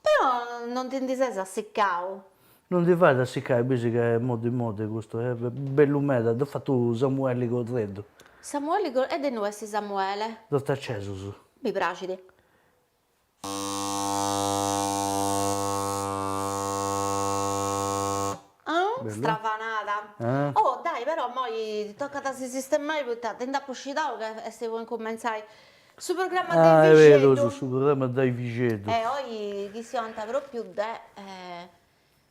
Però non ti ndi ses assiccau? Non ti fait assiccai, bisi ca est moddi moddi custu, est bellu meda, dd'at fatu Samueli Correddu. Samueli Correddu, e de innui est Samuele? De Ortacesus. Mi praxit. Bellu. Strafanada. Oh, dai, però immoi tocat a si sistemai poita ti nd'apu scidau ca est po incumentzai. Su programma de Vixeddu. Ah, est berus, su programma de Vixeddu. E oi chistionant pròpiu de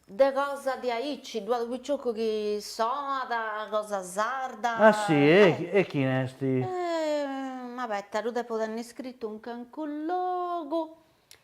de cosa diaici, ddu at unu picioccu chi soat, cosa sarda. Ah si, e chini est? Ma abeta, ddu depu tenni scritu in cancu logu.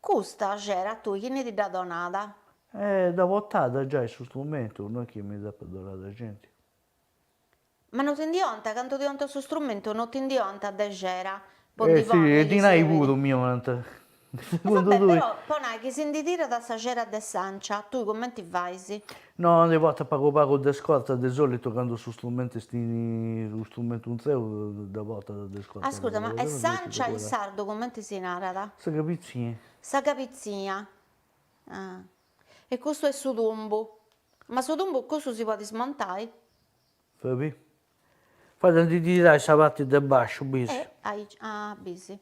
Custa xera a tui chini ti dd'at donada? E dda portat giai su strumentu, no est chi mi dd'apat donada genti. Ma no ti ndi 'onta, candu ti 'onta su strumentu no ti ndi 'onta de xera, po ndi Si, e dinai puru mi 'onant, segundu tui. Però po nai chi si ndi tirat sa xera de s'ancia, tui cumenti fais? No ndi portat pagu pagu de scorta, de solitu candu su strumentu est in unu strumentu intreu dda portat de scorta. Ascurta, ma e s'ancia in sardu cumenti si narat? Sa cabitzia. Sa cabitzia, ah. E custu est su tumbu. Ma su tumbu custu si podit smontai? Fabì. Fait a ndi tirai sa parti de basciu, bisi. E aici, ah, bisi.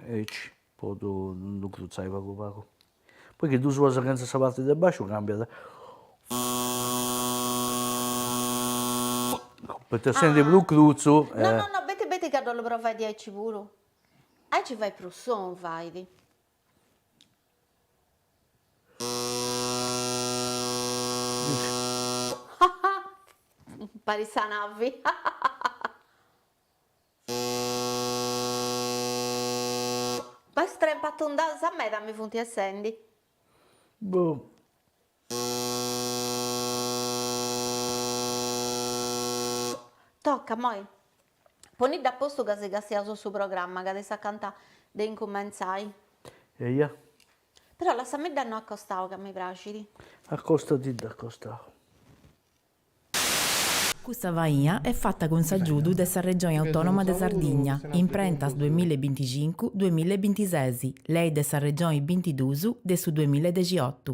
Aici podu ddu crutzai pagu pagu. Poi chi ddu soas chentza sa parti de basciu cambiat. Poita essendi prus crutzu. No no no, beti beti ca ddu 'ollu provai diaici puru. Aici fait prus sonu fait. Parit sa navi. Bai is trempas tundas meda mi funt essendi. Boh. Toca immoi. Ponidda a postu ca si castiaus su programma ca est acanta de incumentzai. Eia. Però lassamidda innoi a costau ca mi praxit. Accostadidda a costau. Custa faina est fata cun s'agiudu de sa Regioni Autònoma de Sardigna, imprentas duemilla e binticincu, duemilla e bintises, lei de sa Regioni bintiduus de su duemilla e dexiotu.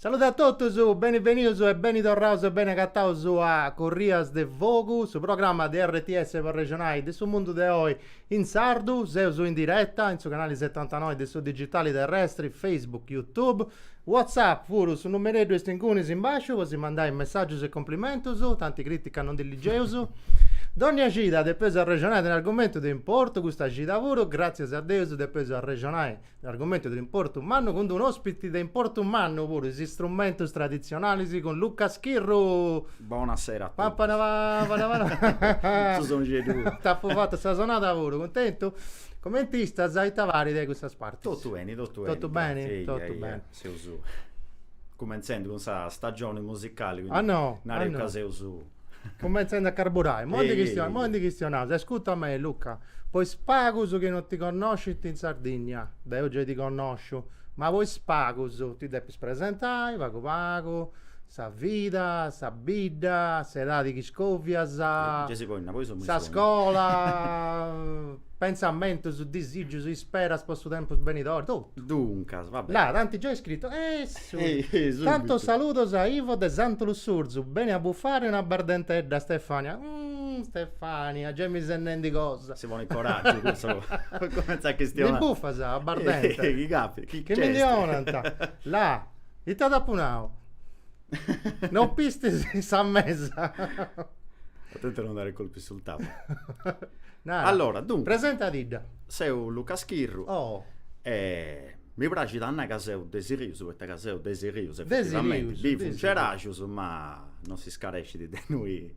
Salude a totus, beni benius e beni torraus e beni agataus a Corrias de Fogu, su programma de RTS po arrexonai de su mundu de oi in sardu. Seus in diretta in su canali setantanoi de su digitali terrestri, Facebook, Youtube. WhatsApp puru, su numereddu est incuni in basciu po si mandai messàgius e cumplimentus, tanti crìtica non ndi ligieus. Dònnia cida depeus arrexonai de un'argumentu de importu, custa cida puru, gràtzias a Deus, depeus arrexonai de un'argumentu de importu mannu cun d-unu òspiti de importu mannu puru, is istrumentus traditzionalis cun Luca Schirru. Bona sera a totus. Pam panabam panabam. Su sonixeddu puru. T'apu fatu sa sonada puru, cuntentu? Comenti istas e ita parit de custas partis? Totu beni, totu beni. Totu beni? Grazie, eia, Totu eia. beni. Seus cumentzendi cun sa stagioni musicali, quindi Ah, no? nareus Ah, no? ca seus Cumentzendi a carburai. Immoi Eia, ndi eia, chistionaus, immoi eia. ndi chistionaus. Ascurta a mei, Luca, po is pagus chi no ti connoscint in Sardigna, deu gei ti connosciu, ma po is pagus ti depis presentai pagu pagu, Sa vida, sa bidda, s'edadi chi dda iscòvias, sa scola, pentzamentus, disigius, isperas po su tempus benidori, totu. Duncas, va beni. Là, t'ant giai iscritu, essu! Tantos saludos a Ivo de Santu Lussurzu, beni a bufare una bardentedda, Stefania. Umm, Stefania, giai mi ses nendi cosa. Si ponit coraggiu cussa po cumentzai a chistionai. Ndi bufas abbardenti? Chi càpitat, chi nc'est? Chi mi ndi 'onant? Là. Ite t'apo nau? Non pistis sa mesa? Atente a non dare colpi sul tavolo. Nara. Allora, dunque. Presentadidda. Seu Luca Schirru. Oh. E mi praxit a nai ca seu de Sirius, poita ca seu de Sirius, effettivamenti. De Sirius. Bivu in Cerajus, ma non s'iscarescit de innoi.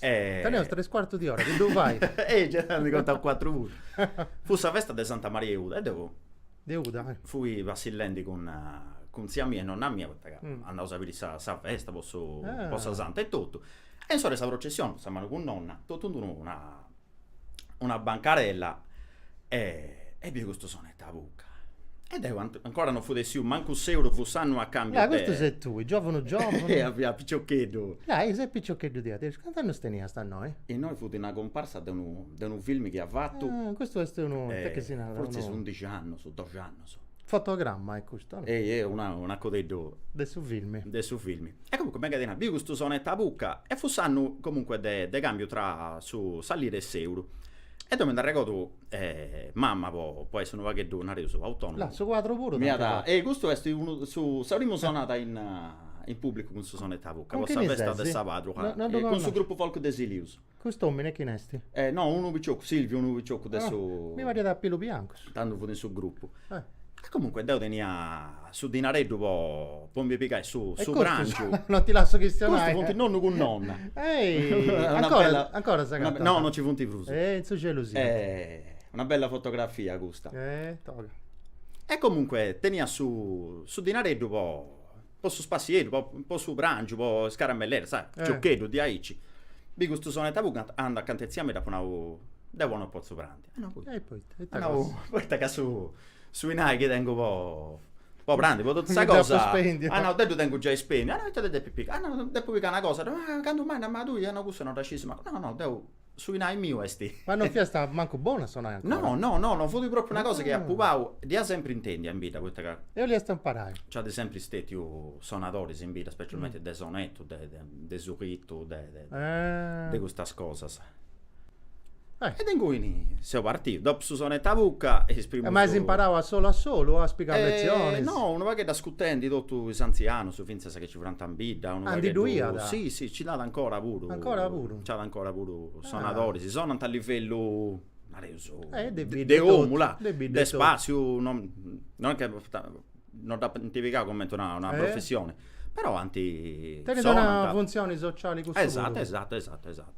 E... Teneus tres cuartu di ora, chi ddu fai? E già ndi contau cuatru puru. Fut sa festa de Santa Maria 'e Uda e deu... De Uda, eh. Fui passillendi cun cun tzia mia e nonna mia poita ca andaus a biri sa sa festa po su po sa Santa e totu. E in s'ora 'e sa processioni, a sa manu cun nonna, totu in d'unu na una bancarella e e biu custu sonetu a buca e deu ancora no fut essiu mancu s'euru fut s'annu 'e cambiu de Ah custu ses tui, giovunu giovunu Eia fia piciocheddu Ah e ses piciocheddu diat essi, cant'annus teniast a innoi? Innoi fut una cumparsa de unu de unu film chi at fatu Ah custu est unu ite chi si narat unu Fortzis undixi annus, doxi annus Fotogramma est custu, no? Ehi, ehi, una, un'acodeddu. De su filmi. De su filmi. E comunque, megu 'e ti nai, biu custu sonetu a bucca e fut s'annu, comunque, de de cambiu tra sa sa lira e s'euru. E deu mi nd'arregodu, mama, po po essi unu pagheddu, nareus, autonomu. Là, su quadru puru t'ant fatu. Ehi, custu est unu, su, sa primu sonada in in pubblicu cun su sonetu a bucca po sa festa de sa patrona, cun su gruppu folk de Silìus. Cust'omine chine esti? Eh, no, unu piciocu, Silviu, unu piciocu de su. Ah, mi pariat a pilus biancus. Tando fut in su gruppu. Eh. E comunque deu tenia su dinareddu po po mi pigai su su prangiu. Non ti lasso chistionai. Custus funt nonnu cun nonna. Ehi, ancora ancora s'agatant? No, non ci funt prus. Eh, in su celu siant. Eh, una bella fotografia custa. Eh, toga. E comunque tenia su su dinareddu po po su spassieddu, po po su prangiu, po is caramelleddas, sa, giocheddus diaici. Biu custu sonetu a bucca, andu acant'e tzia mia dd'apu nau, deu oi no potzu prandi. Ah no poita? E poita? Ita cosa? Nau, poita ca su su inai chi tengu po po prandi, po totu sa cosa. Depus spendi. Ah nau, deu ddu tengu giai spendiu. Ah no, ita ti depis pigai? Ah no, depu pigai una cosa. Ah candu mai, ma tui, ah no cussa no dda sciu, si mancu. No no, deu Su inai miu est. Ma non fiast mancu bonu a sonai ancora. No, no, no, no fut propriu una cosa chi apu pau, dd'ia sempri intendi a in bidda poita ca. E 'oliast imparai. Nc'at sempri stetiu sonadoris in bidda, specialmenti de sonetu, de de sulitu, de de custas cosas. E de inguni seu partiu, dopu su sonetu a bucca e is primus. Ma as imparau a solu a solu o as pigau lezionis? No, unu pagheddu ascutendi totus is antzianus, fintzas sa chi ci furant in bidda, unu pagheddu. Ah, ndi ddu iat? Si, si, nci nd'at ancora puru. Ancora puru? Nci at ancora puru sonadoris, si sonant a livellu, nareus, de omu, là, de spassiu, non est chi non dd'ant pigau cumenti una professioni, però ant, sonant. Tenint una funtzioni sociali cussu puru. Esatu, esatu, esatu, esatu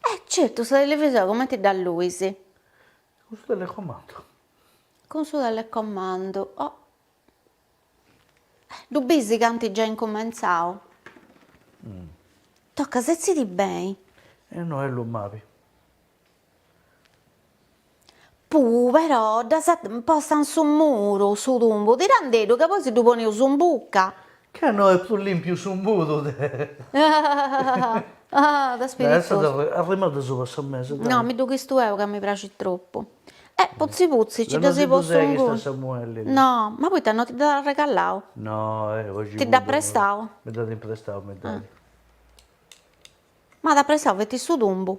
Eh certu, sa televisora cumenti dd'alluis? Cun su telecomandu. Cun su telecomandu, oh. Eh, ddu bisi ca ant giai incumentzau? Toca, setzidì beni. E no est lu mabi. Puu però dd'as postu in su muru, su tumbu, tirandeddu ca poi si ddu poneus in bucca. Ca no est prus lìmpiu su muru de. De spiritosu. Arrimaddu asuba 'e sa mesa. No, mi ddu chistu eu ca mi praxit tropu. E putzi putzi nci dd'as postu inguni. Deu no si ddu seghiu Samuelli. No, ma poita no ti dd'at arregalau? No, oxi. Ti dd'at prestau? Mi dd'at imprestau, mi dd'at. M'at prestau feti su tumbu.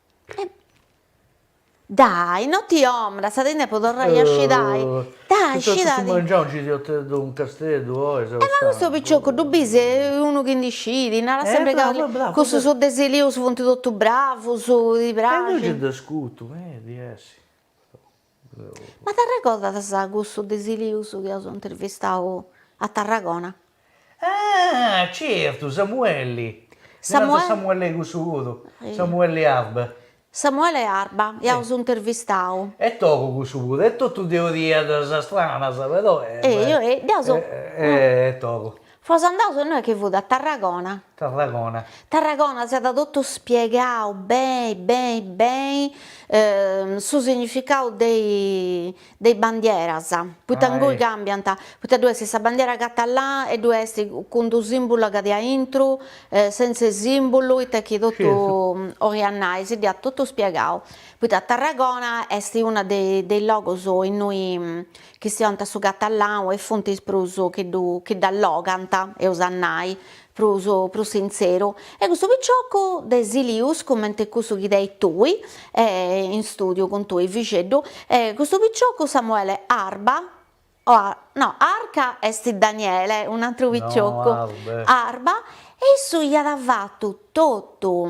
Dai, no ti dromas, ca ti ndi depu torrai a scidai, dai scidadi. Su mangianu nci siat unu casteddu oi sa. E ma custu picioccu ddu bis, est unu chi ndi scit, narat sempri ca cussus de Silius funt totu bravus, ti praxint. E deu nci nd'ascutu meda, essi. Ma t'arregordas cussu de Silius chi aus intervistau a Tarragona? Ah certu, Samuelli, Samuelli Samuelli cussu puru, Samuelli Arba. Samuele Arba, iaus intervistau. Est togu cussu puru, est totu teorias stranas però. Ehi, ehi, deu so. Est togu. Fos andaus innoi chi fut a Tarragona. Tarragona. Tarragona si at totu spiegau beni beni beni su significau de is bandieras, poita inguni cambiant, poita ddoi est sa bandiera catalana e ddoi est cun d'unu simbulu a pati aintru, sentz'e simbulu, ita chi totu 'oliat nai, si dd'iat totu spiegau, poita Tarragona est unu de is logus innoi chi siont a su catallau e funtis prus chi ddu chi dd'allogant, eus a nai, prus prus sintzeru, e custu piciocu de Silius, cumenti cussu chi teis tui, e in stùdiu cun tui Fiebeddu, e custu piciocu Samuele Arba, o a no Arca est Daniele, un'atru piciocu, Arba, e issu iat fatu totu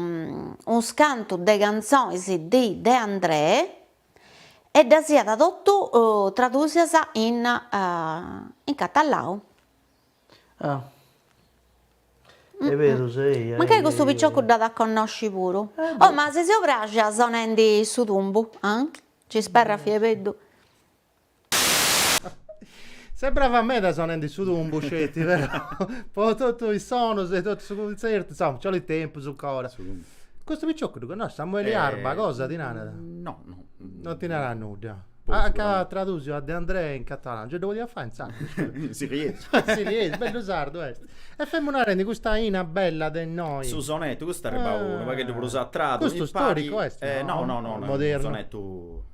unscantu de cantzonis de De Andrè, e ddas iat totu tradusias in in catallau. Ah. Est beru, sei, ai. Mancai custu piciocu dd'at a connosci puru. Oh, ma si seu praxia sonendi su tumbu, ah? Nc'isperrat Fiebeddu. Seu bravu meda sonende su tumbu, sceti, però, po totu is sonus de totu su cuntzertu, insoma, nci 'olit tempus 'ncora. Custu picioccu ddu connosci? Samuele Arba, cosa ti narat? No, no. Non ti narat nudda? Ah ca at tradusiu a De Andrè in catalanu, nci ddu podiat fai in sardu? In siliesu. In siliesu, bellu sardu est. E femu narendi custa linna bella de innoi. Su sonetu, custu est arribau unu pagheddu prus a tradu, mi pari. Custu storicu est, no? No, no, no, no, modernu.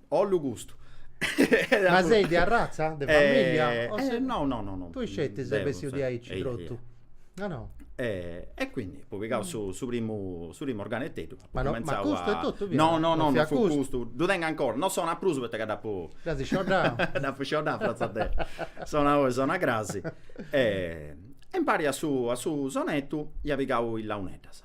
Ollu custu. Ma sei de arratza, de famiglia? Eh, eh, no, no, no, no. Tui sceti ses bessiu di aici, trotu. Ah no. E, e quindi apu pigau su, su primu su primu organeteddu ma, no, ma custu a... e totu via, no no no non, non fu custu. custu ddu tengu ancora non sona prus poita ca dd'apu gasi scioddau dd'apu scioddau fratza de sonai oi sonai crasi e, e impari a su a su sonettu ia pigau is launeddas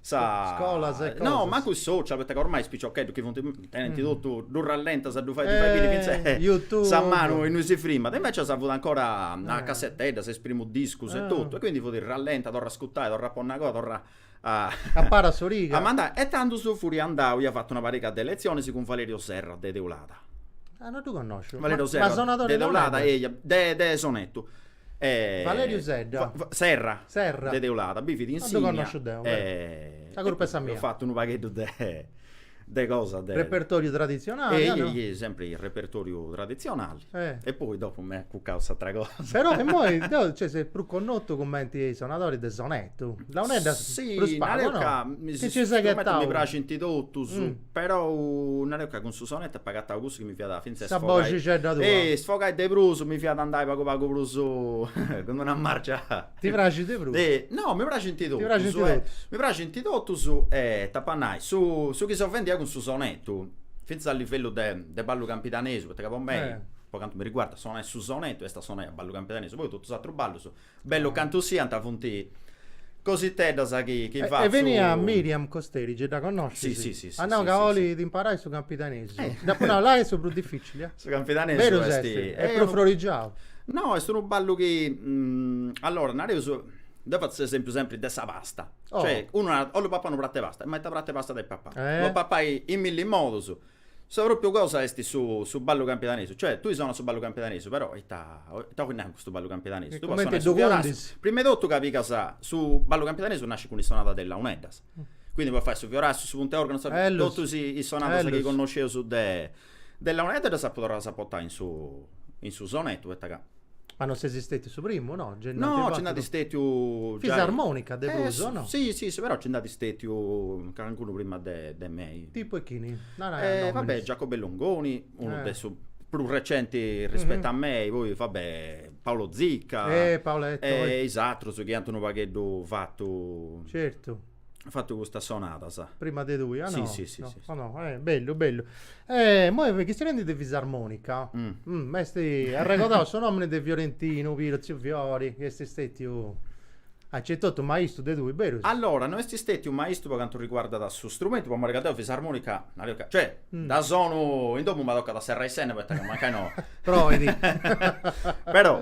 sa Scolas e cosas. No, mancu is social, poita ca ormai is piciocheddus chi funt, tenint totu, ddu rallentas a ddu fai, ddu fai biri YouTube sa manu innui si frimat. Invecias fut ancora a casseteddas, is primus discus e totu, e quindi fut rallenta, torra a ascutai, torra a ponni agoa, torra a Abarrat s'origa. a mandai. E tandus fut andau, ia fatu una pariga de letzionis cun Valerio Serra de Teulada. Ah, no ddu connosciu. Valerio Serra de Teulada, eia, de de Sonetu Valeriu Sedda. Serra. Serra. De Teulada, bivit in Sìnnia. Non ddu connosciu deu, però. Sa curpa est sa mia. Eus fatu unu pagheddu de de cosa de. Repertoriu traditzionali, o no? sempri repertoriu traditzionali. E poi dopu m'at acucau cust'atra cosa. Però immoi deu, cioè, ses prus connotu cumenti sonadori de sonettu. Launeddas prus pagu, o no? Chi nci ses ghetau. Mi praxint totus. Però nareus ca cun su sonettu apo agatau cussu chi mi fiat fintzas Sa boxixedda tua isfogai de prus, mi fiat andai pagu pagu prus cun d'una marcia Ti praxit de prus? No, mi praxint totus, Ti praxint totus? Mi praxint totus e t'apu a nai, su su chi sa fèmina cun su sonettu, fintzas a livellu de de ballu campidanesu, poita ca po mei, po cantu mi riguardat, sonai su sonettu est a sonai a ballu campidanesu, poi totus is atrus ballus Bellu cantu siant funt cositeddas chi fatzu. E beniat Miriam Costeri, gei dda connoscis? Si si si. Ah no ca olit imparai su campidanesu. Dd'apu nau, là est su prus dificili eh. Su campidanesu est. Berus est. Est prus frorigiau. No, est unu ballu chi, allora nareus, deu fatzu s'esempiu sempri de sa pasta, cioè unu narat 'ollu papai unu pratu 'e pasta', ma ita pratu 'e pasta depit papai? Ddu podis papai in milli modus. Sa pròpiu cosa est su su ballu campidanesu, cioè tui sonas su ballu campidanesu, però ita ita 'ois nai cun custu ballu campidanesu, tui podis sonai su fiorassiu, prima 'e totu ca pigas su ballu campidanesu nascit cun is sonadas de is launeddas, quindi podis fai su fiorassiu, su puntu 'e organu, sa totus is sonadas chi connosceus de de is launeddas ddas apu torradas a portai in su in su sonettu poita ca Ma non sesi stetiu su primu, no? Gei no, nci nd'at stetiu giai... Fisarmonica, de prus, o no? Si, si, però nci nd'at stetiu calincunu prima de mei. Tipu 'e chini? Narai nominis. Va bè, Giacobbe Longoni, unu de su prus recenti rispettu a mei, poi va bè, Paolo Zicca... Eh, Paoletto, oi. E is atrus chi ant unu pagheddu fatu... Certu. fatu custas sonadas. Prima de tui, ah no? Sì, sì, sì, no. sì, sì. Oh, no. Eh, bellu, bellu. Eh, moi chistionendi de fisarmonica. Mm. M'est arregodau su nomini de Fiorentinu Piras, Ziu Fiori, chi esti stetiu a certu, totu maistu de tui, berus? Allora, non esti stetiu maistu po cantu riguardat su strumentu, po mori ca deu fisarmonica, nario ca, cioè, Mm. dda sonu in domu ma tocat a serrai is ennas poita ca mancai no. Proidi. Però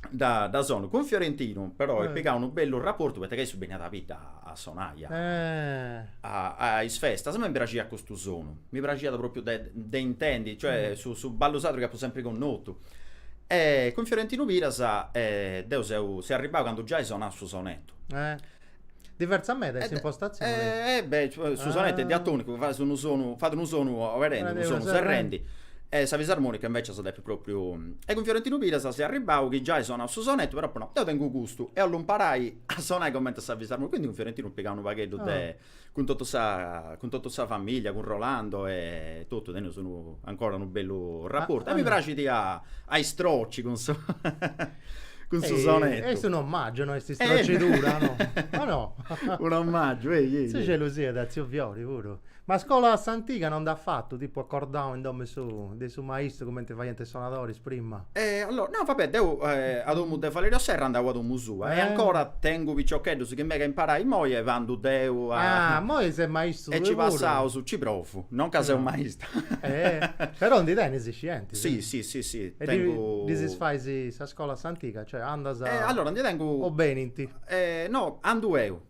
dda, dda sonu cun Fiorentinu però est eh. pigau unu bellu raportu poita ca issu beniat a bidda a sonai a, eh. a, a is festas a mei mi praxiat custu sonu mi praxiat propriu de, de intendi cioè mm. su, su ballu sardu chi apu sempri connotu est cun Fiorentinu Piras eh, deu seu, seu arribau candu giai sonau su sonetu eh. Diversa meda in s'impostatzione. Eh, eh, beh, su sonettu est diatonicu, fa unu sonu, fat unu sonu oberendi, unu sonu serrendi. E sa fisarmonica invecias depit propriu. E cun Fiorentinu Piras seu arribau chi giai sonau su sonettu, però apo nau, deu tengu custu e 'ollu imparai a sonai cumenti sa fisarmonica, quindi cun Fiorentinu pigau unu pagheddu de Cun totu sa cun totu sa famìllia, cun Rolando e totu, teneus unu ancora unu bellu rapportu e mi praxit a a istroci cun su cun su sonetu. Est un ommàgiu, no est istrocidura, no? O no? Un ommàgiu, ehi, ehi. Sa gelosia de tziu Fiori puru. Ma scola a s'antiga non nd'as fatu, tipu acordau in domu 'e su de su maistu cumenti faiant is sonadoris prima? E allora, no, vabbè, deu eh, a domu de Valerio Serra andau a domu sua e eh. ancora tengu piciocheddus chi mega imparai moi e bandu deu a... Ah, moi ses maistu E ci passaus, ci provu, non ca seu maistu. Eh, però ndi tenis is scientis. Sì, sì, sì, sì, e tengu... Ddi, ddi fais sa scola a s'antiga, cioè andas... E allora, ndi tengu... O benint? Eh, no, andu eu.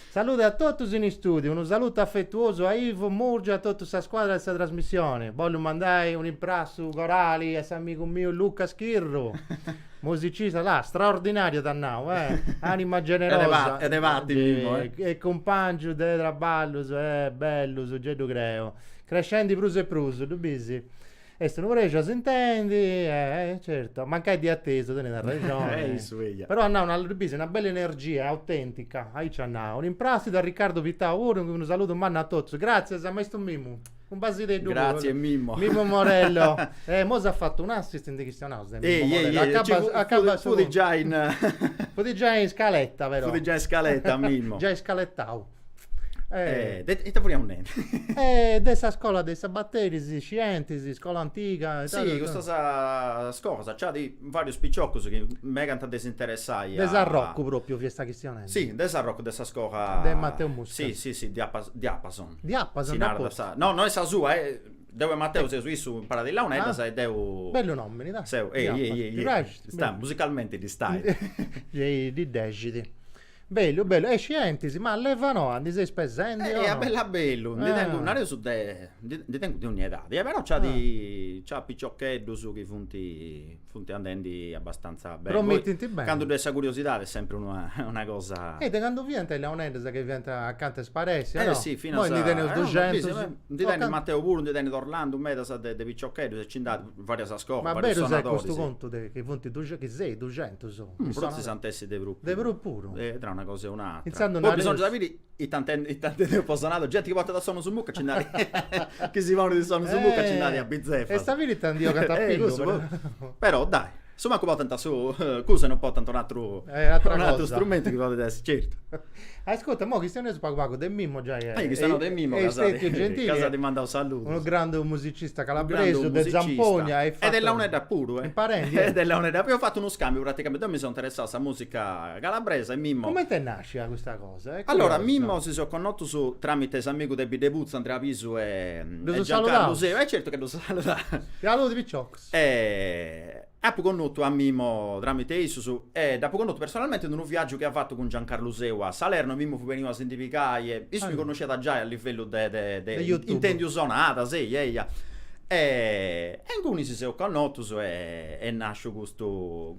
Salude a totus in istùdiu, unu salutu afetuosu a Ivo Murgia e a totu sa scuadra de sa trasmissioni. Bollu mandai un'imprassu corali a s'amigu miu Luca Schirru, musicista, là, straordinàriu t'at nau, eh, ànima generosa e cumpàngiu de traballus, eh, bellus, gei ddu creu, crescendi prus e prus, ddu bisi? Est unu prexu, s'intendi, eh, certo. Mancai de atesu, tenit arrexoni. Eh, issu, eja. Però at nau una, ddu bisi, una bella energia, autèntica, aici at nau. Imprassidu a Riccardo Pittau puru, unu saludu mannu a totus. Gràtzias a maistu Mimmu. Un basideddu puru. Gràtzias, Mimmo. Mimmo Morello. Eh, imoi s'at fatu un'assist ndi chistionaus de Mimmo Morello. Ehi, ehi, ehi, ehi, acabat su... Fut giai in... Fut giai in scaletta, però. Fut giai in scaletta, Mimmo. Giai scaletau. Eh, de ita furiaus nendi? Eh de sa scola de is sabateris, scientis, iscola antiga e tesinanta. Si, custas cosas, nci at varius piciocus chi megant de s'interessai a. De Sarrocu propriu fiast chistionendi. Si, de Sarrocu de sa scola. De Mateu Muscas. Si, si, si, diapas, diapason. Diapason. Si narat sa, no, no est sa sua, deu e Mateu seus issu imparat launeddas e deu. Bellu nomini, dai. Seu, ehi, ehi, ehi, ehi. Ti praxit? Sta, musicalmenti ddi stai. Gei ddi dexit. Bellu bellu, e scientis, ma leva noa ndi seis pesendi o no? A bellu a bellu, ndi tengu, nareus de, ndi tengu de ogni edadi e però nc'at, nc'at piciocheddus chi funt, funt andendi abastanza beni, promittint beni, candu ddoi est sa curiosidadi est sempri una una cosa. E de candu fiant is leoneddas chi fiant acanta 'e sparessi o no? Eh si, finas, imoi ndi teneus duxentus, ndi tenit Mateu puru, ndi tenit Orlandu medas de piciocheddus e nci nd'at varias scolas, varius sonadoris. Ma berus est custu contu de chi funt duxentus, chi seis duxentus? Forsis ant essi de prus. De prus puru. E tra una cosa e un'atra. Poi bisongiat a biri ita intendeus po sonadori. Genti chi portat sonus in bucca ci nd'at, chi si ponit is sonus in bucca ci nd'at a bizefa. Est a biri ita ndi 'ogant a pillu. Però dai Su mancu portant su cosu e non portant un atru strumentu chi podet essi certu. Ascurta, imoi chistioneus pagu pagu de Mimmo giai e est stetiu gentili. Ca s'at mandau saludu. Unu grandu musicista calabresu de Zampogna. E de Launedda puru. E de Launedda puru. Eus fatu unu scambiu praticamenti. Deu mi seu interessau a sa musica calabresa e Mimmo. Cumenti est nascia custa cosa? Allora, Mimmo si seus connotus tramite s'amigu de Biddeputzu, Andrea Pisu e Giancarlu Seu. E certu ca ddus saludaus. Saludi piciocus. E apu connotu a Mimmo tramite issus e dd'apu connotu personalmente in unu viagiu chi at fatu cun Giancarlu Seu a Salerno, Mimmo fut beniu a si ndi pigai e issu mi connosciat giai a livellu de de intendiu sonadas, eia eia. E inguni si seus connotus e nasciu custu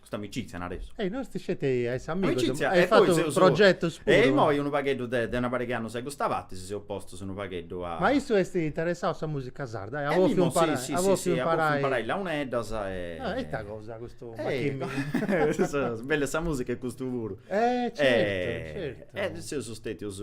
Custa amicizia nareus. Ehi, no est sceti a essi amigus. Amicizia, e poi seus. Progetus puru. E imoi unu pagheddu de una pariga 'e annus a custa parti si seus postus unu pagheddu a. Ma issu est interessau a sa musica sarda? E at bòfiu imparai. Si, si, si, si, at bòfiu imparai launeddas e. Ah, e ita cosa custu machìmini. Bella sa musica est custu puru. Eh, certu, certu. E seus stetius.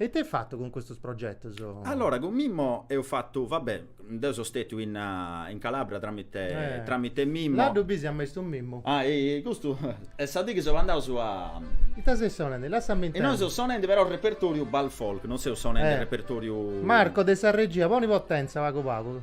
E ita eis fatu cun custus progetus? Allora, cun Mimmo eus fatu, va bè, deu so stètiu in in Calabria tramite tramite Mimmo. Là ddu bis a maistu Mimmu. Ah, ehi, custu est sa dì chi seus andaus a. Ita seis sonendi? Lassami intendi. Innoi seus sonendi però a repertoriu Bal Folk, non seus sonendi a repertoriu. Marco de sa regia, poni potenza pagu pagu.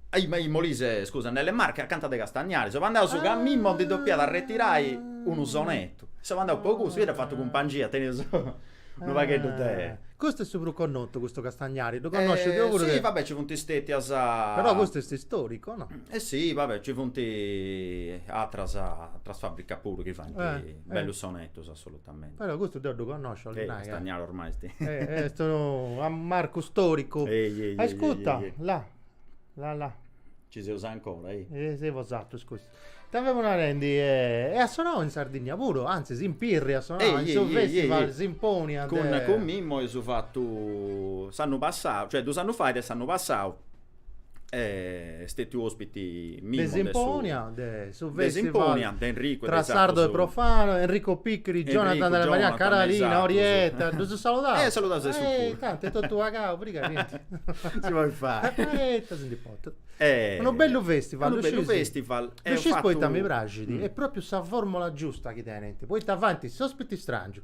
In Molise, scusa, nelle Marche acanta de Castagnari. Seus andaus ca Mimmo ndi depiat arretirai unu sonetu. Seu andau po cussu, ia dd'apu fatu cumpangia, tenia su unu pagheddu de. Custu est su prus connotu, custu Castagnari, ddu connosciu deu puru de. Si, va bè, ci funt stetias. Però custu est istoricu, o no? E si, va bè, ci funt atras atras fabricas puru chi faint bellus sonetus, assolutamente. Però custu deu ddu connosciu, 'olli nai. Castagnari ormai est. Est unu marcu storicu. Ehi ehi ehi. Ascutta, là. La la. Ci seus ancora, ehi. E si fut sartau, scusa. Ita femu narendi, e at sonau in Sardinnia puru, antzis in Pirri at sonau, in su festival Simponia de. Cun cun Mimmo eus fatu s'annu passau, cioè dus annus fait e s'annu passau est stetiu ospiti de Simponia, de su festival tra sardo e profano, Enrico Picchiri, Jonathan Della Marianna, Carolina, Orietta, ddus saludaus? Eh, saludaus a issus puru. Eh, tanti, est totu pagau, prigà, chentu. Si podit fai. Orietta, si ndi potut. Eh. Unu bellu festival, ddu scius? Unu bellu festival, eus fatu. Ddu scis poita mi praxit, est propriu sa formula giusta chi tenint, poita faint s'ospiti strangiu,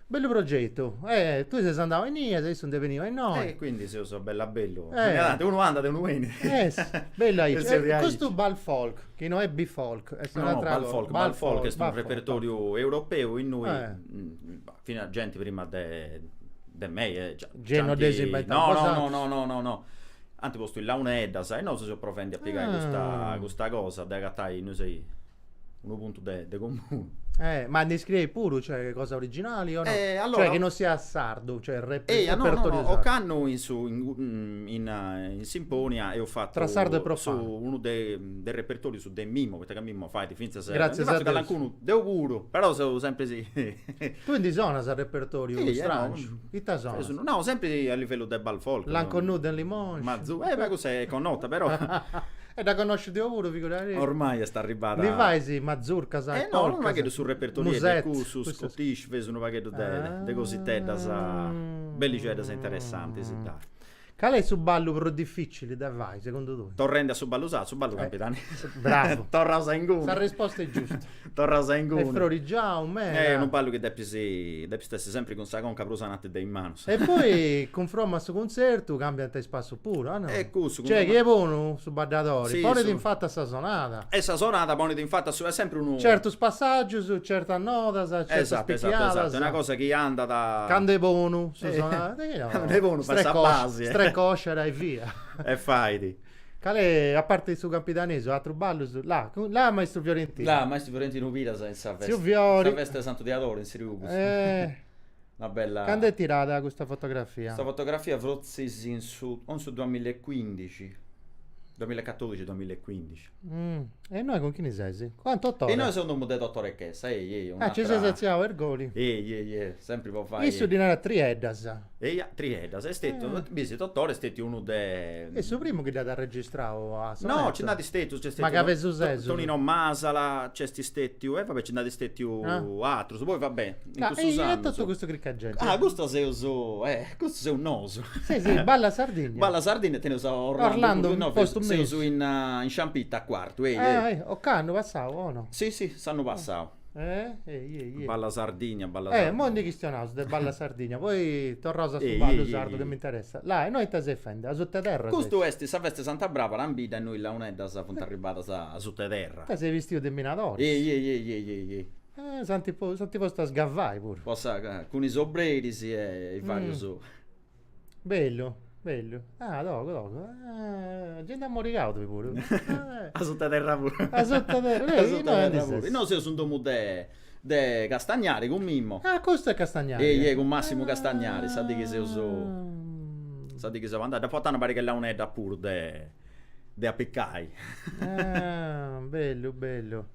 Bellu progetu, e tui ses andau a innì e issu nd'est beniu a innoi. E quindi seus bella bellu, narant unu andat e unu benit. Est bellu aici, e custu Bal Folk, chi no est B-Folk, est un'atra cosa. No, no, Bal Folk est unu repertoriu europeu innui finas genti prima de de mei e già. Gei no dd'eis inventau bosatrus. No, no, no, no, ant postu is launeddas e nosu seus provendi a pigai custa cosa de agatai, no sciu unu puntu de, de comunu. Eh, ma ndi scriis puru, cioè, cosa originali o no? Eh, allora... Cioè, chi non siat sardu, cioè, rep- Eia, no, no, repertorio no, sardu. ocannu in su in, mm, in, eh, in Simponia eus fatu Tra sardo e profano. su unu de, de repertorius de Mimmo, poita ca Mimmo fait finzas eh, Gràtzias ndi a fatzu Deus. calancunu deu puru, però seu sempri si Tu ndi sonas a repertoriu Sì, eh, no, stràngiu? mm, Ita Eus sonas? unu- no, sempri a livellu de ball folk. L'inconnu de Limoise. Mazu- eh, ma cussa est connota, però. E dda connòsciu deu puru, figurati. Ormai est arribada. Ndi fais mazurcas e polcas. Unu pagheddu su repertoriu est de cussus, scottish, feus unu pagheddu de cositeddas bellixeddas e interessantis, dai. Cali est su ballu prus dificili de fai, segundu tui? Torrendi a su ballu sardu, su ballu campidanesi. Bravu. Torraus a inguni. Sa risposta est giusta. Torras a inguni. E frorigiau meda. Eh, unu ballu chi depis, depit essi sempri cun sa conca prus ananti de is manus. E poi cunfromma a su cunzertu cambiant is passus puru, a no? E cussu. Cioè chi est bonu su baddadori. Si, su. Ponit in fatu a sa sonada. E sa sonada ponit in fata su, est sempri unu. Certus passaggius, certas nodas, certas picchiadas. Esatto, esatto, esatto, est una cosa chi andat. Candu est bonu su sonada. Candu est bonu fait sa basi. Strecosciada e via. E fait. Cale, a parte su campidanesu, atrus ballus? La, la maistru Fiorentinu. La, maistru Fiorentinu Piras in sa festa. In sa festa 'e Santu Diadoru in Sriugus. Una bella. Cando est tirada custa fotografia? Custa fotografia frotzis in su, o in su duamill'ecuindixi, duamill'ecatodixi, duamill'ecuindixi. E innoi cun chini ses? Ah, Totore. E innoi seu in domu de Totore Chessa, ehi, ehi. Ah, nci ses atziau a Irgoli. Ehi, ehi, ehi, sempri po fai. Issu ddi narat trieddas. Eia, trieddas, est stetiu, bis, Totore est stetiu unu de. Est su primu chi dd'at arregistrau a sonetu. No, nci nd'at stetus, nc'est stetiu. Ma ca pesu sesus. Tonino Masala, nc'est stetiu, e va bè nci nd'at stetiu atrus, poi va bè, in cussus annus. E totu custa crica 'e genti. Ah, custu seus, custu seus nosu. Si, si, Balla Sardigna. Balla Sardigna e teneus a Orlando. Orlando, postu in mesu. Seus in Sciampitta a Cuartu, eia. Ocannu passau, o no? Si, si, s'annu passau. Eh? Ehi, ehi, ehi. Balla Sardigna, Balla Sardigna. Eh, moi ndi chistionaus de Balla Sardigna, poi torraus a su ballu sardu chi m'interessat. La, e innoi ite ses fendi? A suta 'e terra ses? Custu est sa festa 'e Santa Bràbara in bidda e innoi is launeddas funt arribadas a suta 'e terra. Ita ses bistiu de minadori. Ehi, ehi, ehi, ehi, ehi, ehi. Eh, s'ant po, s'ant postu a sgavai puru. Po sa, cun is obreris e varius. Bellu, bellu. Ah, togu, togu. Ah, gente ammorigadu bi puru. Eh, A sutta terra puru. A sutta terra, A sutta terra puru. Eh, innoi aundi ses? Innoi seus in domu de de Castagnari cun Mimmo. Ah, custu est Castagnari. Ehi, ehi, cun Massimu Castagnari, sa dì chi seus, Ah. sa dì chi seu andau. Dd'apu portau una pariga 'e launeddas puru de de apicai. Ah, bellu, bellu.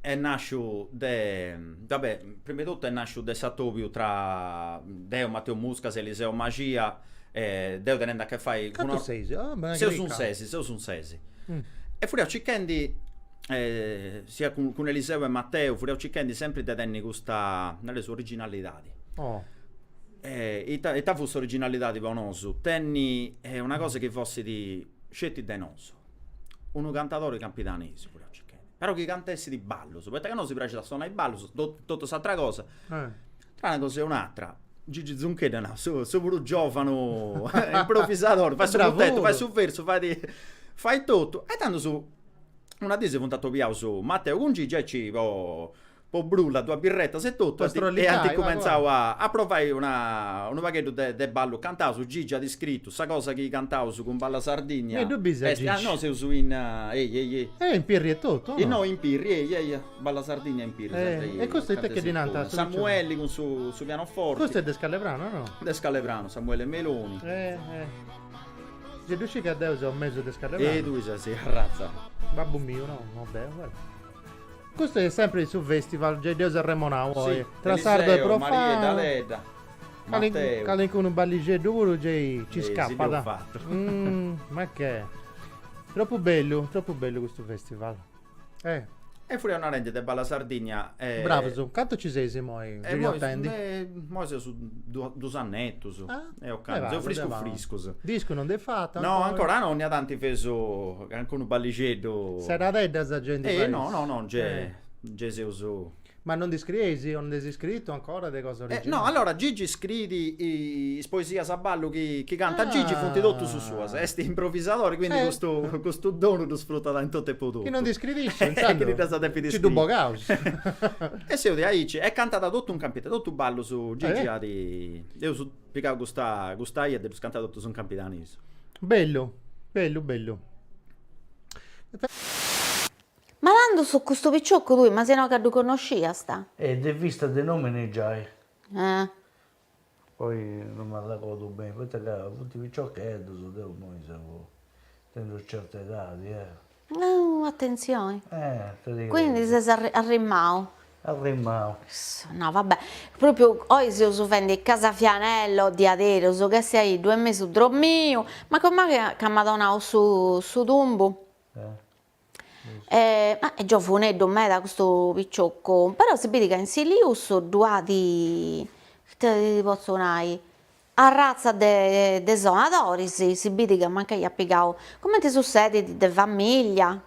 est nàsciu de, va bè, prima 'e totu est nàsciu de s'atòbiu tra deu, Mateu Muscas e Eliseo Maxia, deu tenende a che fai cun Cantu seis? Ah b'est una cricca! Seus in ses, seus in ses. E furiaus circhendi, sia cun cun Eliseo e Mateu, furiaus circhendi sempri de tenni custa, nareus, originalidadi. Oh. E ita ita fut s'originalidadi po nosu? Tenni una cosa chi fossit sceti de nosu. unu cantadori campidanesu furiaus circhendi, però chi cantessit ballus, poita ca nosi praxit a sonai ballus, totu s'atra cosa, tra una cosa e un'atra, Gigi Zuncheddu, no, issu puru giovanu improvisadori, fait su mutetu, fait su versu, fait fait totu, e tandus una dì si funt atobiaus Mateu cun Gigi aici po po brulla duas birretas e totu e ant cumentzau a provai unu pagheddu de ballu cantaus Gigi at scritu sa cosa chi cantaus cun Balla Sardigna est no seus in ehi ehi ehi e in Pirri e totu o no innoi in Pirri ehi ehi ehi Balla Sardigna in Pirri e custu it'est chi ddi nant Samuelli cun su pianoforti custu est de Scallepranu o no de Scallepranu Samuele Meloni si ddu scit ca deu seu mesu de Scallepranu e tui ses arratzau babbu miu no no deu Custu est sèmpiri in su fèstival, gei dd'eus arremonau oi, tra sardo e profano, calincunu ballixeddu puru gei nci scapat, ma che, tropu bellu, tropu bellu custu fèstival. E furiaus narendi de Balla Sardigna. Bravus, cantu nci seis imoi giriotendi? Imoi seus dus annetus, seus friscus friscus. Discu non nd'eis fatu ancora? No, ancora no, 'onnia tanti feus Cancunu ballixeddu. Seradedda sa genti fais. Eh no no no gei nci seus. Ma non ndi scrieis o nd'eis iscritu ancora de cosa originali? No, allora Gigi scriit is poesias a ballu chi chi cantat Gigi funt totus suas, est improvisadori quindi custu custu donu ddu sfrutat in totu e po totu. Chi non ndi scriit issu intzandus nci ddu bogaus. E seus diaici e cantat totu in Campidanu, totu ballus Gigi at. Eus Pigau custa custa 'ia e ddus canta totus in campidanisu. Bellu bellu bellu. Ma tandus custu piciocu tui, ma si no ca ddu connosciast. E de vista de nomini giai. Eh. Poi no m'arragodu beni, poita ca funt piciocheddus, deu immoi seu tenendi certa edadi, eh. Nau atentzioni. Quindi ses arrimau. Arrimau. Issa, no va bè. Propriu oi seus fendi Casa Vianello, diaderus, ca essi a deu mesu dromiu, ma com'aghi ca m'at donau su su tumbu. E ma est giovuneddu meda custu piccioccu, però si bit ca in Silius ddu at, ite ti potzu nai, Arratza de de sonadoris si bidit ca mancai at pigau, cumenti sussedit, de famiglia.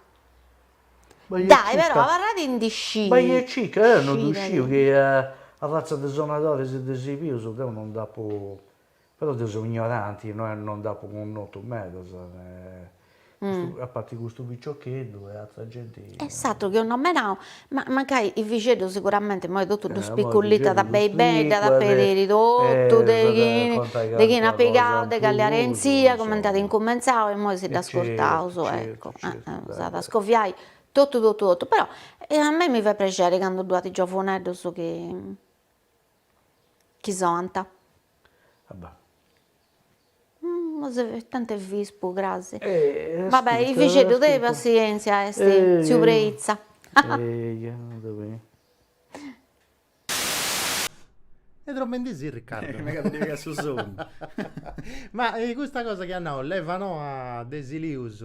Dai però abarrat in disci. Bai e cicca, deu non ddu sciu chi arratza de sonadoris de Silius deu non dd'apu, però deu seu ignoranti, no non nd'apu connotu medas. a parti custu piciocheddu e atra genti. E s'atru chi ho nomenau, ma mancai is bixeddus siguramente imoi totu ddu spicullitat beni beni, dda depit biri totu de de chini at pigau, de calli arenzia, cumenti at incumentzau e imoi si dd'ascurtaus, eccu, s'at a scoviai totu totu totu, però a mei mi fait prexeri candu ddu at giovuneddus chi chi sonant. Va bè. Tanti est vispu cras. Va bè, i fixeddu de passientzia est tziu Preitza. Est dromendisi Riccardo. Mega ti legat su sonnu. Ma custa cosa chi at nau leva noa de Silius.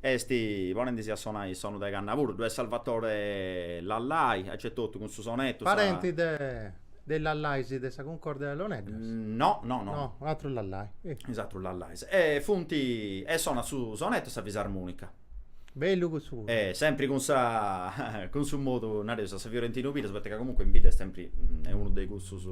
Est, ponendisi a sonai is sonus de canna puru, ddu est Salvatore Lallai, aici etotu cun su sonettu, sa. Parenti de is Lallais de sa Cuncordia de Launeddas? No, no, no. No, atrus Lallai. Is atrus Lallais. E funti, e sonat su sonettu e sa fisarmonica. Bellu cussu puru. E sempri cun sa, cun su modu, nareus, a sa Fiorentinu Piras, poita ca comunque in bidda est sempri, est unu de cussus,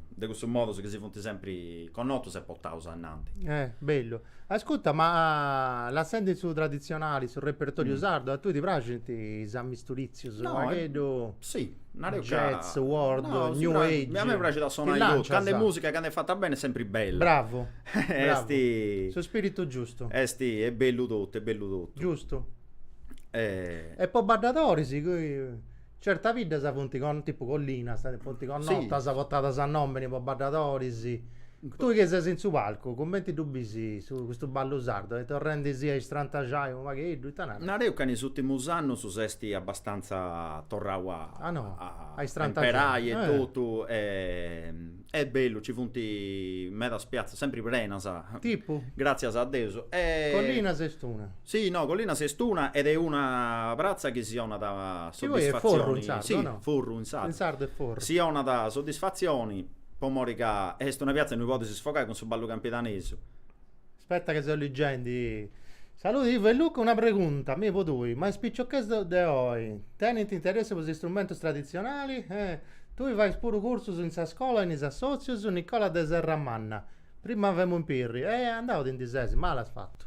de cussus modus chi si funti sempri connotus e portaus ainnanti. Eh, bellu. Ascuta, ma lassendi su traditzionali, su repertoriu sardu, a tui ti praxint is amisturìtzius, u' pagheddu, jazz, world, new age, a mei mi praxit a sonai totu, candu est mùsica, candu est fata beni est sempri bella. Bravu, bravu, su spiritu giustu. Est, est bellu totu, est bellu totu. Giustu. E po baddadoris? Certas biddas funt con, tipu Collinas, funt connotas, portadas a nomini po baddadoris. Tui chi ses in su palcu, cumenti ddu bisi custu ballu sardu? Est torrendisi a istrantaxai unu pagheddu, ita naras? Nareus ca in is ùrtimus annus s'est abbastanza torrau a a imperai e totu e Est bellu, ci funt medas piatzas, sempri prenas. Tipu? Gràtzias a Deus. Collinas est una. Si, no, Collinas est una ed est una pratza chi si 'onat Chi poi est Forru in sardu, o no? Si, Forru in sardu. In sardu est Forru. Si 'onat soddisfatzioni po mori ca est una piatza innui podis sfogai cun su ballu campidanesu. Aspetta che seu liggendi. Saluti Ivo e Luca, una pregunta mi po tui, ma is piciocheddus de oi tenint interessu po is istrumentus traditzionali? Eh, tui fais puru cursus in sa scola e in is assotzius? Nicola de Serramanna, prima femu in Pirri, e andau ti ndi ses, mali as fatu.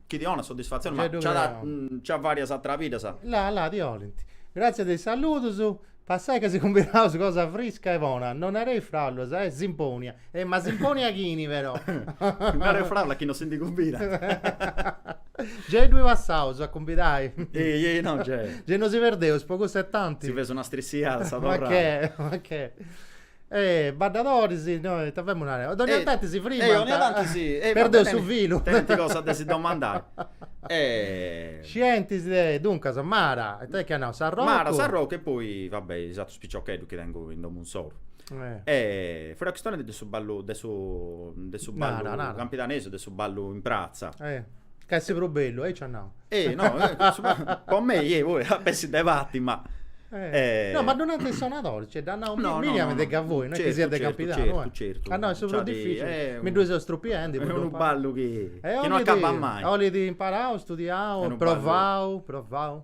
Chi ti 'onat soddisfatzioni, ma Niceddhu nci at Creoni. nci at varias ateras biddas. La la ti 'olint. Gràtzias de is saludus. Passai ca si cumbidaus cosa frisca e bona. No nareis fràulas, Simpònia. E ma Simpònia chini però? No nareis fràulas chi no si ndi cumbidat. Gei ddui passaus a cumbidai. Ei ei no gei. Gei no si perdeus po cussa e tanti. Si feus una strissiada a sa torrada. Ma che, ma che. Eh, baddadoris, no, ita femus narendi, po dònnia tanti si frimant. Eh, dònnia tanti si. Perdeus su filu. Tenint cosas de si domandai. Scientis, duncas, Mara, e ita chi at nau, s'arrocu? Mara, Sarrocu e poi, va bè, is atrus piciocheddus chi tengu in domu insoru. E fuaus chistionendi de su ballu, de su, de su ballu campidanesu, de su ballu in pratza. Ca est prus bellu, aici at nau. Eh, no, po mei, eh, poi a pessi de parti, ma... Eh, no, ma ddu nant is sonadoris, cioè, dd'at nau Miriam de Gavoi, no est chi siat de Campidanu, eh. Certu, certu, certu. Est prus dificili, mi ddu seu strupiende. Est unu ballu chi non acabat mai. 'olit imparau, studiau, provau, provau.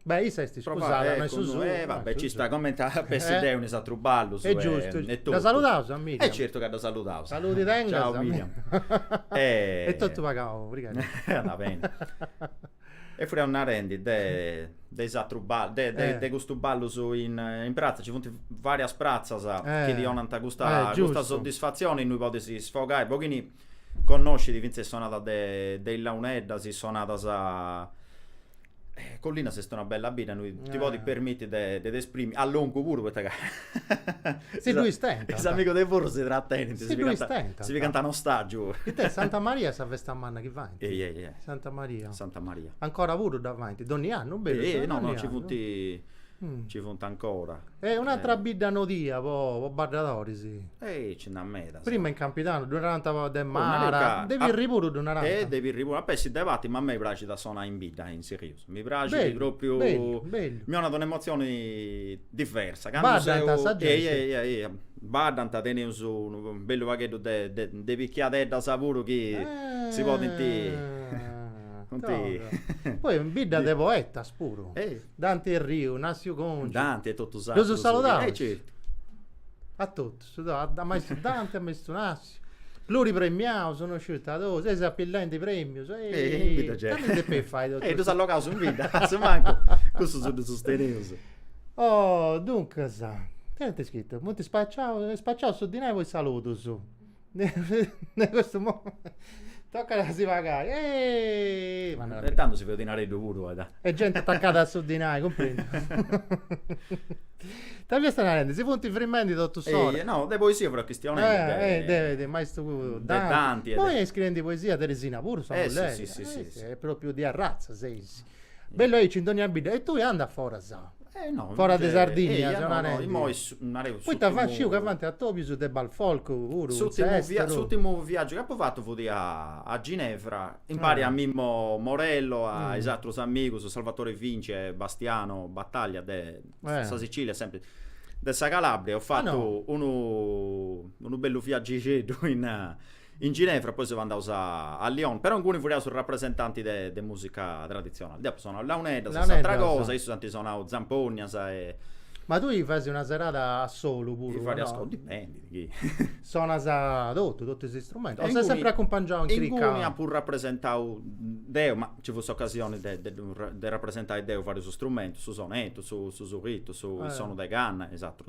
Beh, issa est iscusada, no est su suo. E va bè, ci sta, comente a pessi deu in is atrus ballus. E giustu, e totu. Dda saludaus a Miriam? E certu ca dda saludaus. Saludi tengat. Ciau Miriam. E totu pagau, obrigadu. Andat beni. E furriaus narendi de de is atrus ballus, de de custus ballus in in pratza, ci funt varias pratzas chi ti 'onant custa custa soddisfatzioni innui podis sfogai unu pochinu Connoscint fintzas is sonadas de is launeddas, is sonadas Collinas est una bella bidda, innui ti podis permitti de ti esprimi, a longu puru poita ca si ddu istentant, is amigus de Forru si tratenint, si ddu istentant, si pigant a ostaggiu, it'est Santa Maria sa festa manna chi faint, ehi ehi ehi, Santa Maria, Santa Maria, ancora puru dda faint, donni annu, berus, ehi ehi, no no nci funt ci funt ancora. E un'atra bidda nodia po sonadoris. Ehi ci nd'at medas. Prima in Campidanu ddu narant de Mara, de Pirri puru ddu narant. E de Pirri puru, a pessi de parti, ma a mei praxit a sonai in bidda in Silius, mi praxit propriu, mi 'onat una emotzioni diversa. Baddant sa genti. Ehi ehi ehi, baddant, teneus unu bellu pagheddu de de piciocheddas puru chi si podint, funt. Poi in bidda de poetas puru. Dante e Riu, Nassiu Congiu. Dante e totu s'atrus. Ddo'su saludaus. E certu. A totus, a maistu Dante, a maistu Nassiu. Pluripremiaus, no sciu ita totu, eis apillendi premius. Ehi, candu depei fai totu custu. E ddus allogaus in bidda, asumancu cussus ddus teneus. Oh, duncas, ita ant scritu? Funt spaciaus, spaciaus su dinai po is saludus. De custu momentu tocat a si pagai. E tando si feus dinareddu puru poita. E genti atacada a su dinai, cumprendiu. Ita fiasta narendi? Si funt frimendi totus ora. No, de poesia furiaus chistionendi. De maistu Danti. Imoi est scriendi poesia Teresina puru, sa mulleri. E propriu de arratza seis. Bellu, est aici in dogna bidda. E tui andas foras. Eh no. Foras de Sardigna, eia, no, no, narendi. immoi su- nareu Poita s'urtimu- fa- sciu ca faint atobius de bal folk puru, S'urtimu via- s'esteru. s'urtimu viaggiu chi apu fatu futi a a Ginevra, impari a Mimmo Morello, a is atrus amigus, Salvatore Vinci e Bastiano Battaglia de sa Sicilia e sempri de sa Calabria, eus fatu unu unu bellu viaggixeddu in In Ginevra, poi seus andaus a a Lyon, però inguni furriaus rapresentanti de de musica traditzionali. Deu apu sonau launeddas e atra cosa, issus ant sonau zampognas e. Ma tui fais una serada a solu puru o no? De fai diaici, dipendit chi. Sonas totu, totu is istrumentus, o ses sempri acumpangiau in cricca? Inguni apu rapresentau deu, ma nci fut s'ocasioni de de ddu de rapresentai deu varius strumentus, su sonetu, su su surritu, su is sonus de canna e is atrus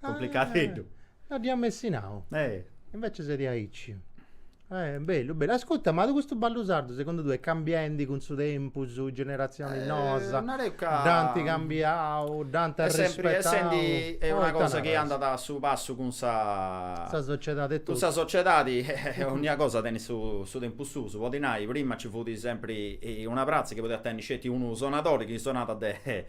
Cumplicateddu. No dd'ia messi nau. Eh. Invece ses aici. Eh, bellu, bellu. Ascutta, ma custu ballu sardu segundu tue est cambiendi cun su tempus, is generazionis noas? Nareu ca. dd'ant cambiau, dd'ant arrispettau. Est sempri essendi una cosa chi andat a su passu cun sa. Sa sociedadi e totu. Cun sa sociedadi e onnia cosa tenit su tempus suu. Podit nai, prima nci fut sempri una pratza chi podiat tenni sceti unu sonadori chi sonàt de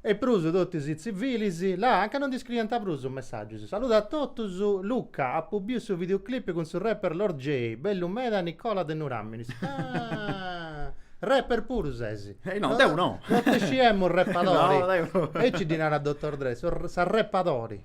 E prus totus is tzivilis, là, anca nosi scriint prus is messàgius. Saludat a totus. Luca, apu biu su videoclip cun su rapper Lord Jay, bellu meda Nicola de Nuràminis. Ah! Rapper puru ses? Eh no, deu no! No ti sciemu rappadori. No, deu no. Aici ddi narat Doctor Dre, s'arrappadori.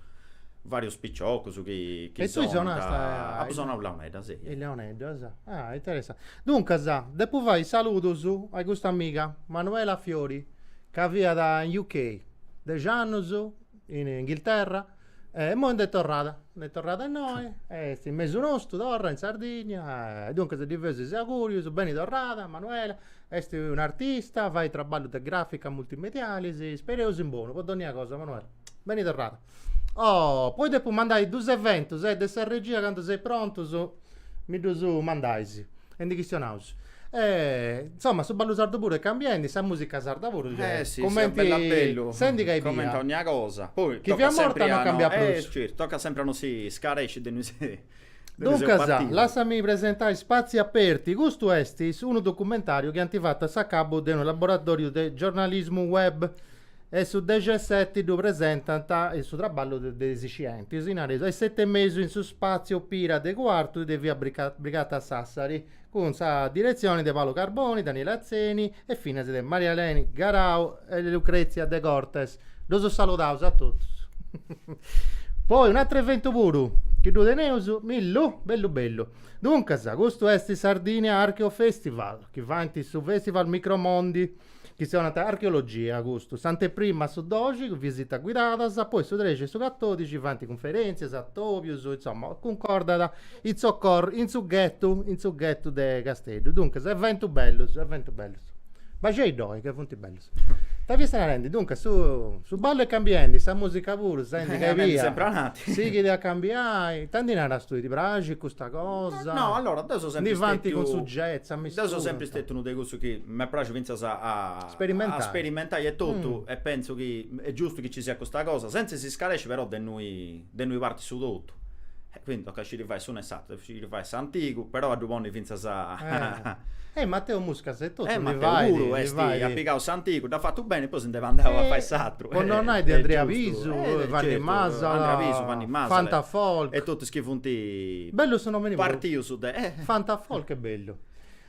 vàrius piciocus chi chi E tui son sonast ca a apu in sonau in Launeddas, e in Launeddas, ah interessante. Duncas depu fai is saludus a custa amiga Manuela Fiori ca fiat in UK dexi annus in Inghilterra e immoi nd'est torrada, nd'est torrada innoi e est in mesu nostru torra in Sardigna e duncas ddi feus is augurius, beni torrada Manuela Est un'artista, fait traballu de gràfica multimedialis, ispereus in bonu po dònnia cosa Manuela. Beni torrada. Oh, poi depu mandai duus eventus, e de sa regia candu seis prontus mi ddus mandais e ndi chistionaus. E, insoma, su ballu sardu puru est cambiendi, sa musica sarda puru, gei, cumenti, Eh si, a bellu a bellu, senti ca ebbia, cumenti onnia cosa, poi, chi tocat fiat morta sempri a non no, cambiat prus. eh, certu, tocat sempri a no si scaresci de innui si Duncas, lassami presentai Spazi Aperti, custu est unu documentàriu chi ant fatu a s'acabbu de unu laboratòriu de giornalismu web e su dexeseti ddu presentant su traballu de is scientis, nareus, a is seti e mesu in su spàtziu Pira de Cuartu de via Brigata a Sassari. cun sa diretzioni de Paolo Carboni, Daniele Atzeni e finas de Maria Eleni Garau e Lucrezia De Cortes. Ddus saludaus a totus. Poi un'atru eventu puru, chi ddu teneus, Millu? Bellu bellu. Duncas, custu est Sardinia Archeo Festival, chi fait su Festival Micromondi, chi s'acàntiat archeologia, custu, s'anteprima su doxi, visitas guidadas, poi su trexi e su catòdixi faint cunferèntzias, atòbius, insoma, cuncordau in su, in su ghetu, in su ghetu de Casteddu. Duncas, eventus bellus, eventu bellus. Baxei ddoi ca funt bellus. Ita fiaus narendi, duncas, su su ballu est cambiendi, sa musica puru, senti ca ebbia, sighit a cambiai, ita ndi naras tui, ti praxit custa cosa, ndi faint cun su jazz, a mistura, insoma. M'est pràxiu fintzas a a sperimentai etotu e pentzu chi est giustu chi nci siat custa cosa, sentza 'e s'iscaresci però de innui de innui partit su totu. E quindi tocat sciri fai s'unu e s'ateru, sciri fai s'antigu, però a ddu ponni fintzas a. E Mateu Muscas etotu ndi fait, ndi fait. E Mateu puru est, at pigau s'antigu, dd'at fatu beni e poi si nd'est andau a fai s'ateru. Po non nai de Andrea Pisu, Vanni Masala, Fanta Folk. E totus is chi funt. Bellu su nomini puru. Partius de. Fanta Folk est bellu.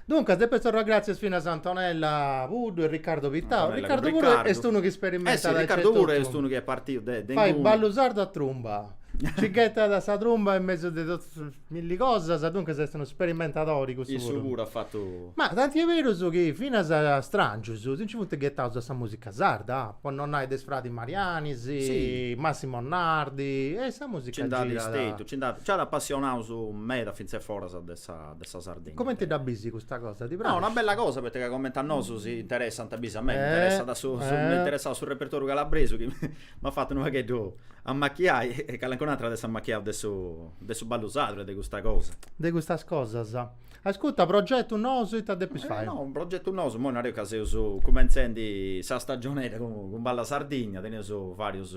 Duncas depeus torrai gràtzias finas a Antonella Puddu e Riccardo Pittau. Antonella cun Riccardu. Riccardu puru est unu chi isperimentat aici e totu. Eh si, Riccardu puru est unu chi est partiu de inguni. Fait ballu sardu a trumba. Nci ghetat sa trumba in mesu de totus is milli cosas, duncas est unu sperimentadori cussu puru. Issu puru at fatu. Ma tanti est berus chi finas stràngius si nci funt ghetaus a sa mùsica sarda, po non nai de is fradis Mariani, Massimo Nardi e sa mùsica gei. Nci nd'at stetiu, nci nd'at, nci at apassionaus meda fintzas foras de sa. de sa Sardegna. Comenti dda bis custa cosa? Ti praxit? No, una bella cosa poita ca comenti a nosu si interessant, bis a mei mi interessat su, m'est interessau su repertoriu calabresu chi m'at fatu unu pagheddu ammachiai e calencun'atru at a essi ammachiau de su de su ballu sardu e de custa cosa. De custas cosas. Ascurta, progetus nous ita depis fai? No, progetus nous, imoi nareus ca seus cumentzendi sa stagionedda cun Balla Sardigna, teneus varius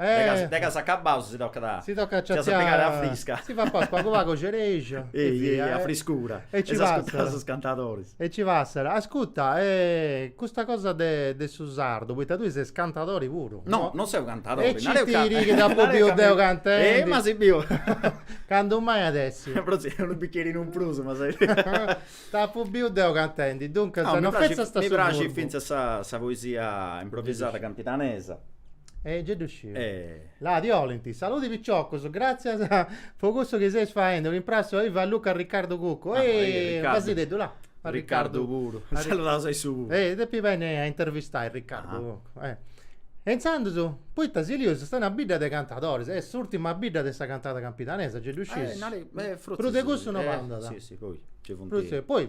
Eh. De chi acabaus si tocat a. Si tocat a ciaciai. Si eus a pigai aria frisca. Si papaus pagu pagu cerexa. Ehi ehi a friscura. E si ascurtaus is cantadoris. E si passat. Ascurta e custa cosa de de su sardu, poita tui ses cantadori puru. No, non seu cantadori. E citi·dì chi t'apu biu deu cantendi. Ehi ma si biu. Candu mai at a essi. Però si unu bicherinu in prus ma ses. T'apu biu deu cantendi, duncas no fetzas. Mi praxit fintzas sa poesia improvisada campidanesa. E gei ddu sciu. E. Là ti 'olint. Saludi piciocus, gratzias po cussu chi seis faendi, un imprassu a Ivo e a Luca Riccardu Cuccu. Ah, ehi, Ehi, Riccardu. pentza·ddu, là. A Riccardu. Riccardu puru. A Ricca- Saludaus a issu puru. E depu benni a intervistai Riccardu Cuccu. Eh. E intzandus, poita Silius est una bidda de cantadoris, est s'urtima bidda de sa cantada campidanesa, gei ddu sciu. Eh, nari, eh, frotzis. Prus de cussu no Eh, andat. si, si, poi, gei funt. Prus de, poi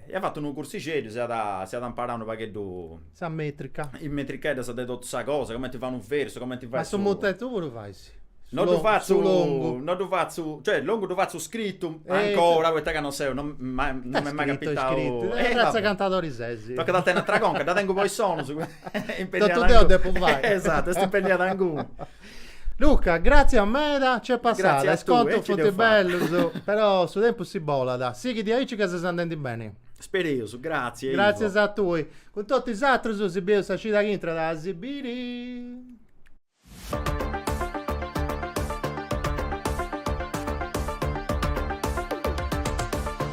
Eus fatu unu cursixeddu, si iat imparau unu pagheddu. Sa metrica. Is metricheddas de totu sa cosa, cumenti fai unu versu, cumenti fai su. Ma su mutetu puru fais? No ddu fatzu. Su longu. No ddu fatzu, cioè longu ddu fatzu scrittu, ancora, poita ca non seu, non m'est mai capitau. Scrittu scrittu, e fintzas cantadori ses. Tocat a tenni atera conca, dda tengu po is sonus. Totu deu depu fai. Esatu, est impenniada inguni. Luca, gràtzias meda, nc'est passada, is contus funt bellus, però su tempus nci bolat, sighi diaici ca ses andendi beni. Spereus, gràtzias Ivo. Gràtzias a tui. Cun totu is atrus si bieus sa cida chi intrat a si biri.